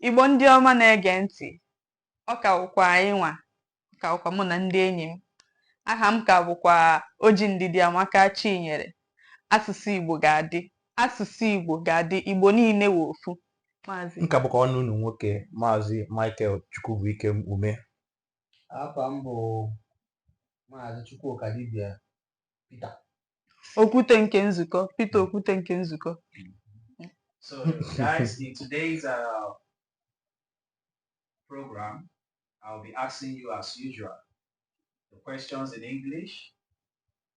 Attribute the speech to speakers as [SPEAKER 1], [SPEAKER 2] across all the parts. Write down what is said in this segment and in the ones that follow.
[SPEAKER 1] Igbo ndị ọma na-ege ntị, ọ ka wụkwa anyị nwa, ọ ka wụkwa mụ na ndị enyi m. Aha m ka bụkwa Oji Ndidiamaka Chinyere. Asụsụ Igbo ga-adị, asụsụ Igbo ga-adị, Igbo niile wụ ofu. Maazị. Nke a bụkwa nwanne unu nwoke Maazị Michael Chukwubuikem Ume. Afa m bụ Maazị Chukwuka Dibia Pita Okwute nke nzukọ Pita Okwute nke nzukọ So guys in today's uh, program I'll be asking you as usual the questions in English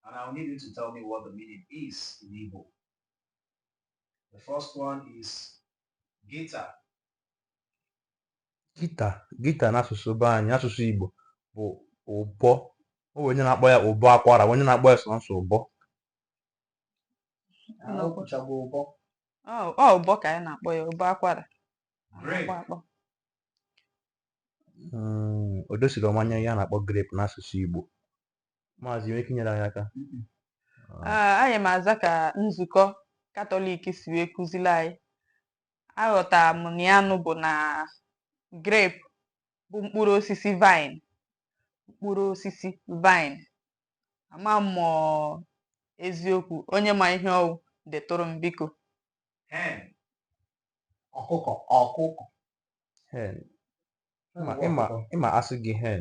[SPEAKER 1] and I'll need you to tell me what the meaning is in Igbo. The first one is guitar. gita gita n'asụsụ be anyị asụsụ Igbo bụ ụbọ o nwee onye na-akpọ ya ụbọ akwara nwee onye na-akpọ ya sọnsọ ụbọ ọ ụbọ ka anyị na-akpọ ya ụbọ akwara hmm, o dosirọ m anya ihe a na-akpọ grape n'asụsụ Igbo maazị nwere ike inyere anyị aka ah, anyị ma aza ka nzukọ katọlik si wee kụziri anyị aghọtara m na ya nụ bụ na grape bụ mkpụrụ osisi vine mkpụrụ osisi vine ama m ma ọ eziokwu onye ma ihe ọ wụ detụrụ m biko Hen. ọkụkọ ọkụkọ hen ịma ịma ịma a sị gị hen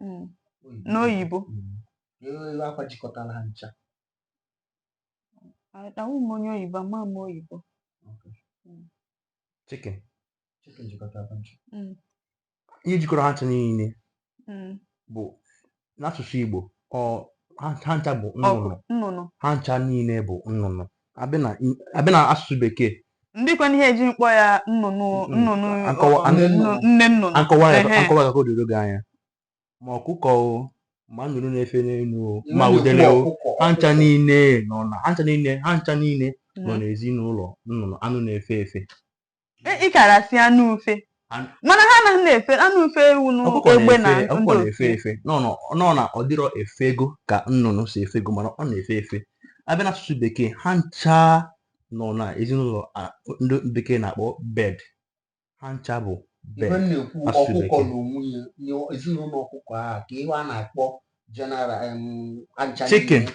[SPEAKER 1] mm. n'oyibo akwa jikọtara ha ncha ahụ m onye oyibo ama m oyibo mm. chicken mm. ihe jikọrọ ha ncha niile bụ n'asụsụ Igbo ha ncha bụ nnụnụ ha ncha niile bụ nnụnụ a bịa na a bịa na asụsụ bekee ndịkwanụ ihe eji m kpọọ ya nnụnụ Mm, nnụnụ akọwa- ọ- nne nnụnụ. nnụ- nne nnụnụ akọwa ya Ehe. akọwa ya ka o doro gị anya ma ọkụkọ o ma nnụnụ na-efe n'elu o ma Nnụnụ udele o ọkụkọ, ha ncha ọkụkọ. niile nọ na ha ncha niile ha ncha niile nọ Mhm. n'ezinụlọ nnụnụ anụ na-efe efe E- ị kara asị anụ ufe An- mana ha anaghị na-efe anụ ufe ewu na ọkụkọ egbe na na-efe ọkụkọ ndụ na-efe efe nọ nọ- nọ na ọ dịrọ efego ka nnụnụ si efego mana ọ na-efe efe a bịa n'asụsụ bekee ha ncha nọ na ezinụlọ a- ndị bekee na-akpọ bird ha ncha bụ bird ibe m na-ekwu asụsụ ọkụkọ bekee. na onwe ya nye ezinụlọ ọkụkọ ahụ ka ihe a na-akpọ general em, ancha Chicken. niile.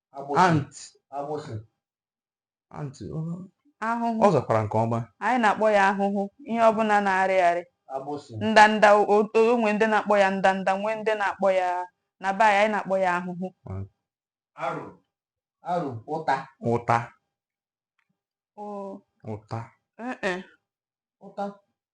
[SPEAKER 1] ant ant ahụhụ ọ zakwara nke ọma anyị na-akpọ ya ahụhụ ihe ọbụla na-arị arị ndanda o nwee ndị na-akpọ ya ndanda nwee ndị na-akpọ ya na be anyị anyị na-akpọ ya ahụhụ ụta ụta ụta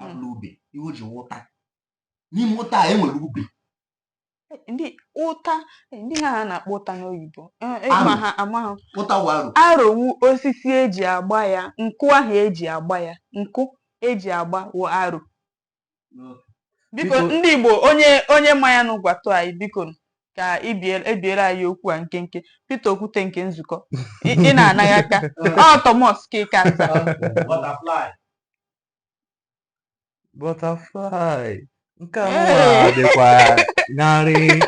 [SPEAKER 1] abụla ube iwu ji ụta n'ime ụta a enwere ube ndị ụta ndị ha ha na-akpọ ụta n'oyibo Eh, eh, Aro. ma ha ama ha ụta wụ aro aro wụ osisi eji agba ya nkụ ahụ eji agba ya nkụ eji agba wụ aro biko Biko- ndị igbo onye onye ma ya nụ gwatụ anyị biko nụ, ka ibie- ebiere anyị okwu a nkenke Peter Okwute nke nzukọ ị ị na-anaghị aka ọ Thomas Kikata butterfly butterfly nke a nwa dịkwa narị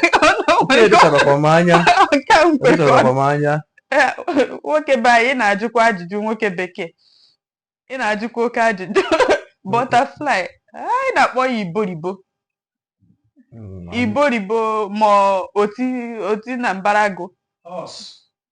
[SPEAKER 1] nke dịcharakwa m anya nke a nkwe dịcharakwa m anya Eh, nwoke be anyị ị na-ajụkwa ajụjụ nwoke bekee ị na-ajụkwa oke ajụjụ butterfly anyị na-akpọ ya iboribo Mm, iboribo ma oti oti na mbaragụ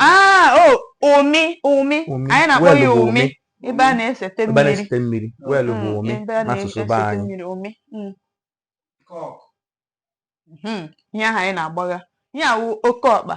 [SPEAKER 1] ah, umi umi anyị na-akpọ ya umi ebe a na-esete mmiri well bụ umi n'asụsụ be anyị hmm. Hmm. ihe ahụ anyị na-agbagha ya wụ oke ọkpa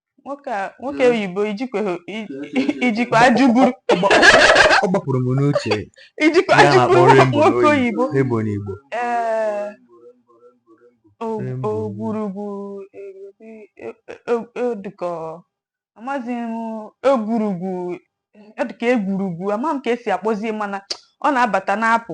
[SPEAKER 1] nwoke a- nwoke Mm. oyibo ijikweghị i- i jikwa ajụ buru ọ gbapụrụ m n'uche i jikwa ya na-akpọ ajụ buru rainbow nwoke n'oyibo oyibo rainbow n'igbo ee o- Rainbow. ogwurugwu egwuri- e- e- e- ọ dịka ọ- amaghịzi m egwurugwu ọ dịka egwurugwu ama m ka esi akpọzie mana ọ na-abata na-apụ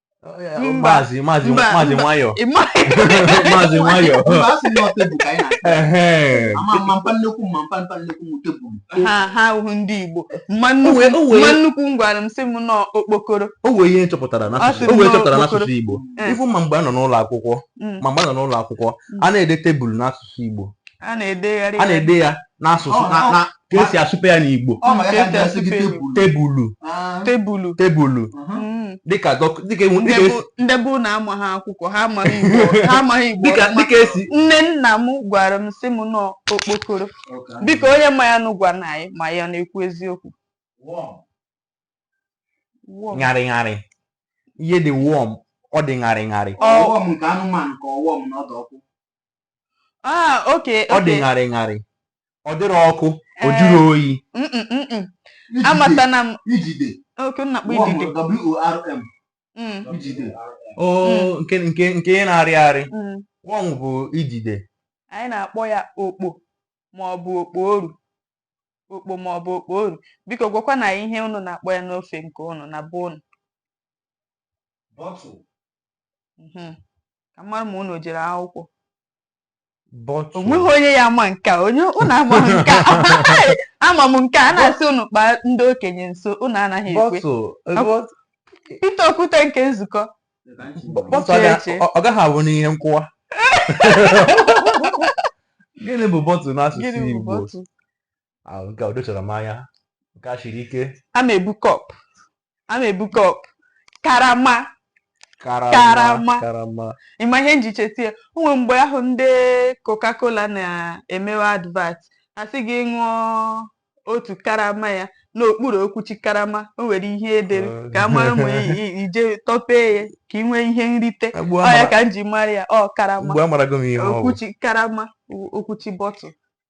[SPEAKER 1] maazị maazị maazị nwayọ maazị nwayọ ha ahụhụ ndị Igbo mma nnukwu m gwara m sị m na ọ okpokoro o nwee ihe chọpụtara n'asụsụ Igbo ị fụ ma mgbe a nọ n'ụlọ akwụkwọ mm. ma mgbe a nọ n'ụlọ akwụkwọ mm. a na-ede tebụl n'asụsụ Igbo a na-ede ya n'asụsụ ka esi asụpe ya n'igbo ọ maka ya ga-asị gị tebụl tebulu Ah, tebulu tebulu mhm. Mm. dịka dọk- dịka enwe- dịka esi- ndị bụ na amaghị akwụkwọ ha amaghị igbo ha amaghị igbo dịka ọfụma. dịka esi nne nna m gwara m sị m na ọ okpokoro Okay. biko onye ma ya nụ gwa na anyị ma ya na-ekwu eziokwu Warm. Wow. ṅarị ṅarị ihe dị warm ọ dị ṅarị ṅarị Ọ- ọ worm nke anụmanụ ka ọ warm na ọ dị ọkụ Ah, okay, ọ dị okay. ṅarị ṅarị ọ dịghị ọkụ ọ Eh. jụghị oyi Mm, mm, mm, mm. Amatana m. Ijide. Okay, na-akpọ idide. W-O-R-M. Mm, Ijide. o nke nke nke ihe na-arị arị mm. worm bụ ijide Anyị na-akpọ ya okpo ma ọ bụ okpo oru. Okpo ma ọ bụ okpo oru. Biko gwakwa na ihe unu na-akpọ ya n'ofe nke unu na be unu. Bottle. Mhm. ka m mara ma unu jere akwụkwọ bọtụ onweghị onye ya ama nke a onye unu ama nke a ama m nke a na-asị unu kpaa ndị okenye nso unu anaghị ekwe bọtụ eh, bọtụ Pita okwute nke nzukọ bọtụ Chee, aga- chee. ọ ọ gaghị abụ n'ihe nkụwa gịnị bụ bọtụ n'asụsụ gịnị bụ Igbo bọtụ ahụ nke o dochara m anya nke a siri ike a na-ebu kọp a na-ebu kọp karama karama Karama. karama ị ma ihe m ji cheta ya o nwe mgbe ahụ ndị coca-cola na-emewe advert a sị gị ṅụọ otu karama ya n'okpuru okwuchi karama o nwere ihe e dere ka a mara ma i- i- i jee tọpee ya ka ị nwee ihe nrite Ugbu ọ ya amara- ka m ji mara ya ọ karama ugbu a amarago m ihe ọ bụ okwuchi karama o- okwuchi bọtụl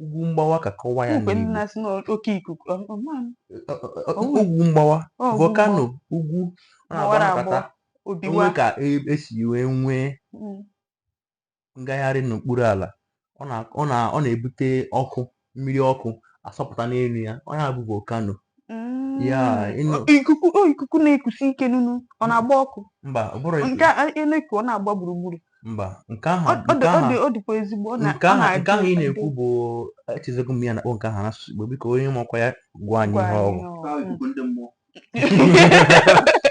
[SPEAKER 1] ugwu mgbawa ka a kọwa ya mgbe ndị n'Igbo na-asị na oke ikuku ọ- ọ ma m, Ọ- ọ- ọ- Ọwụ. ugwu mgbawa ọ ugwu volcano ugwu ọ gbawara na-agba agbọ nkata obiwa o nwe ka e- e si wee nwee Mm, ngagharị n'okpuru ala ọ na- ọ na- ọ na-ebute ọkụ mmiri ọkụ asọpụta n'elu ya ọ ya bụ volcano mm. ya ị nụ- ikuku o ikuku na-ekusi ike nunu ọ na-agba ọkụ mba ọ bụrụ nke a ị na-ekwu ọ na-agba gburugburu mba nke ahụ Ọ- ọ nke dị- ọ ahụ dị- ọ dịkwa ezigbo ọ na- nke ọ ahụ na-adị- nke ahụ ị na-ekwu bụ echezọgo m ihe a na-akpọ nke ahụ n'asụsụ Igbo biko onye makwa ya gwa anyị gwa ihe anyị ọ bụ ọ- Ahụ ikuku ndị mmụọ.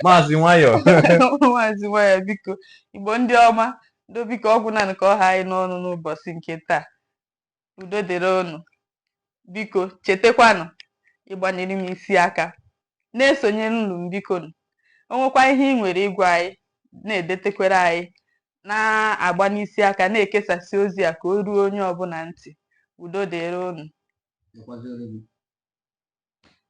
[SPEAKER 1] maazị nwayọọ maazị nwayọọ biko Igbo ndị ọma ndo biko ọ gwụnanụ ka ọ ha anyị n'ọnụ n'ụbọchị nke taa udo dịrị unu biko chetakwanụ ịgbanyere m isi aka na-esonyere nụ m bikonụ. o nwekwa ihe ị nwere ịgwa anyị na-edetekwere anyị na-agbanye isi aka na-ekesasị ozi a ka o ruo onye ọbụla ntị udo dịrị unu Dịkwazịrị gị.